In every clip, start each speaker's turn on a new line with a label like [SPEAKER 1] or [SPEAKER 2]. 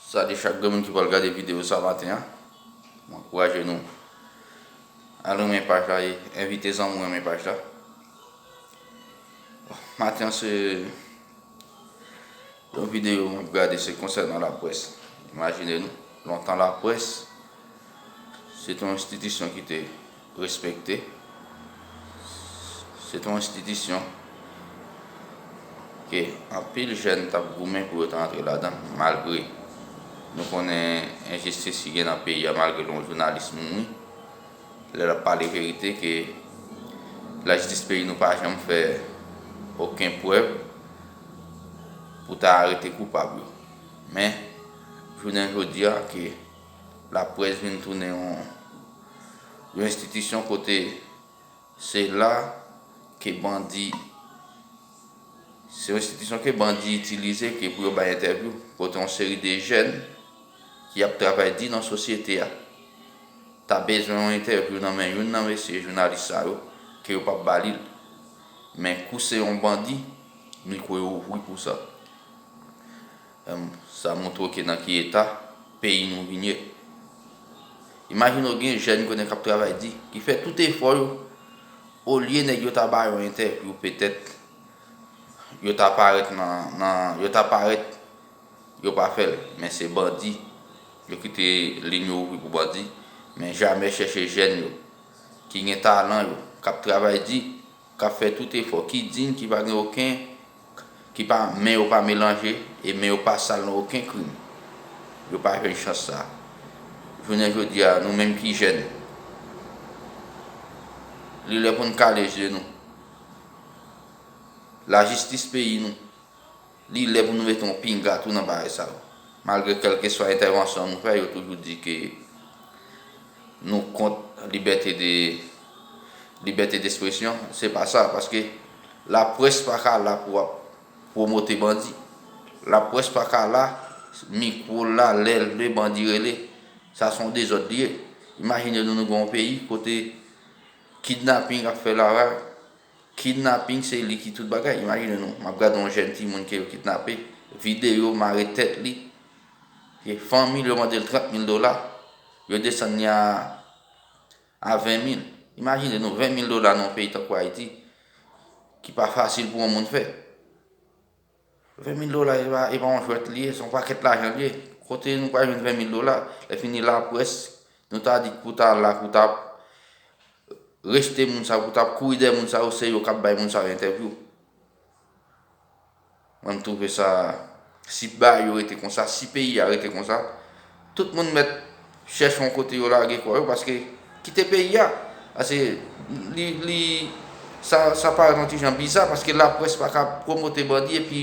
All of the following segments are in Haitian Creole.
[SPEAKER 1] Salye chak grenmoun ki pral gade video sa maten an M ankouraje nou al renmen paj la e envite zanmi w renmen paj la Maten an se yon video m ap gade se konsènan laprès Imajine nou lontan laprès se te yon enstitisyon ki te Respekte. Se t on enstitisyon ke anpil jèn t ap goumen pou yo ta antre ladan l malgre nou konnen enjistis ki gen nan peyi a malgre l on jounalis mouri lè l ap pale verite ke lajistis peyi nou pa janm fè oken prèv pou ta arete koupab yo. Men, jounen jodi a ke. Laprès vin tounen yon yon enstitisyon kote se la ke bandi se yon enstitisyon ke bandi itilize ke pou yo bay entèvyou kote yon seri de jèn ki ap travay di nan sosyete a ta bezwen yon entèvyou nan men youn nan mesye jounalis sa yo ke yo pap ba li l men kou se yon bandi mikwo yo ouvri pou sa. Humm sa montre w ke nan ki eta peyi nou vin ye. Imajine w gen jèn kounye kap travay di, ki fè tout efò yo, olye nèg yo ta ba yo entèvyou petèt yo ta parèt nan nan yo ta parèt yo pa fè l men se bandi yo kite lin yo ouvri pou bandi men jamè chèche jèn yo ki gen talan yo kap travay di. k ap fè tout efò, ki dign, ki pa gen oken, ki pa, men yo pa melanje e men yo pa sal nan oken krim, yo pa jwenn chans sa a. Jounen jodi a, nou menm ki jèn, li lè pou n kale je nou. Lajistis peyi nou. Li lè pou nou mete yon pinga tou nan bagay sa yo. Malgre kèlkeswa entèvansyon nou fè, yo toujou di ke nou kont libète de libète despresyon. Se pa sa, paske laprès pa ka la pou ap pwomote bandi. Laprès pa ka la, mikwo l la lè lè bandi rele. Sa se yon dezòd li ye. Imajine nou nou gen yon peyi kote kidnaping ap fè lavaj. Kidnaping se li ki tout bagay imajine nou map gade yon jèn timoun ke yo kidnape videyo mare tèt li e fanmi l yo mande l 30 mil dola yo desann li a a 20 mil imajine nou 20 mil dola nan yon peyi tankou ayiti ki pa fasil pou yon moun fè. 20 mil dola e pa yon jwèt li ye, se yon pakèt lajan li ye. Kote nou pral jwenn 20 mil dola? Lèfini laprès, nou ta di pou ta la, pou ta rejte moun sa yo, pou ta kouri dèyè moun sa yo, se yo k ap bay moun sa yo entèvyou. Mwen m twouve sa, si bari yo rete konsa, si peyi a rete konsa, Tout moun mèt chèche yon kote yo lage kò yo paske kite peyi a paske li sa parèt yon ti jan biza paske laprès pa ka pwomote bandi epi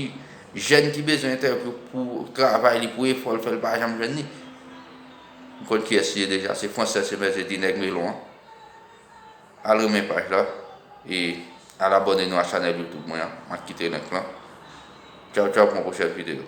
[SPEAKER 1] jèn ki bezwen entèvyou pou travay li pou efò l fè l pa janm jwenn li m konn kiyès li ye deja se fransè se mèt je di nèg melon an al renmen paj la e al abòne nou a chanèl youtube mwen an m ap kite link lan tchawtchaw pou yon pwochèn videyo.